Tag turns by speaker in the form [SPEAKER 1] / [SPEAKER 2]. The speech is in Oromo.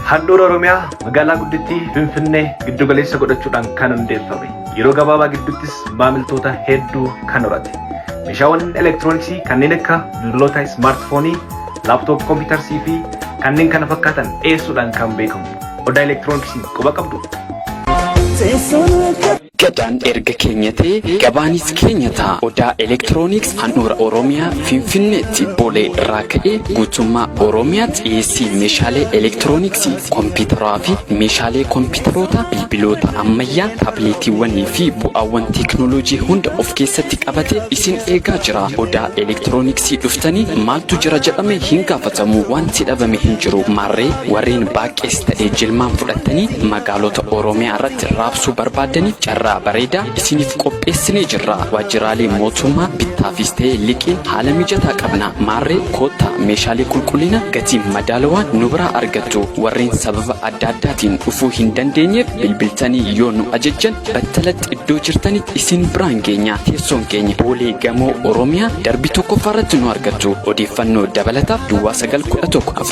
[SPEAKER 1] Handhuura Oromiyaa magaalaa guddittii Finfinnee giddugaleessa godhachuudhaan kan hundeeffame. Yeroo gabaabaa gidduuttis maamiltoota hedduu kan horate. Meeshaawwan elektirooniksii kanneen akka bilbiloota ismaartifoonii, laaptoop kompiitarsii fi kanneen kana fakkaatan dhiyeessuudhaan kan beekamu. Odaa elektirooniksii quba qabdu?
[SPEAKER 2] Gadaan erga keenyatee gabaanis keenya ta'a. Odaa Elektirooniks handhuura Oromiyaa Finfinneetti Boolee irraa ka'ee guutummaa Oromiyaatti dhiyeessii meeshaalee elektirooniksii, kompiitaraa fi meeshaalee kompiitaroota, bilbiloota ammayyaa, taableetiiwwanii fi bu'aawwan teeknooloojii hunda of keessatti qabate isin eegaa jira. Odaa Elektirooniksii dhuftanii maaltu jira jedhame hin gaafatamu. Wanti dhabame hin jiru. Maarree warreen baaqees ta'e jilmaan fudhattanii Gaalota Oromiyaa irratti raabsuu barbaaddaniif carraa bareedaa isiniif qopheessinee jirra. Waajjiraalee mootummaa bittaafis ta'e liqiin haala mijataa qabna. Maarree koottaa meeshaalee qulqullina gatii madaalawaan nu biraa argattu. Warreen sababa adda addaatiin dhufuu hin dandeenyeef bilbiltanii yoo nu ajajjan battalatti iddoo jirtanitti isin biraan geenya. Teessoon keenya Boolee Gamoo Oromiyaa darbii tokkoffaa irratti nu argattu. Odeeffannoo dabalataaf duwwaa 911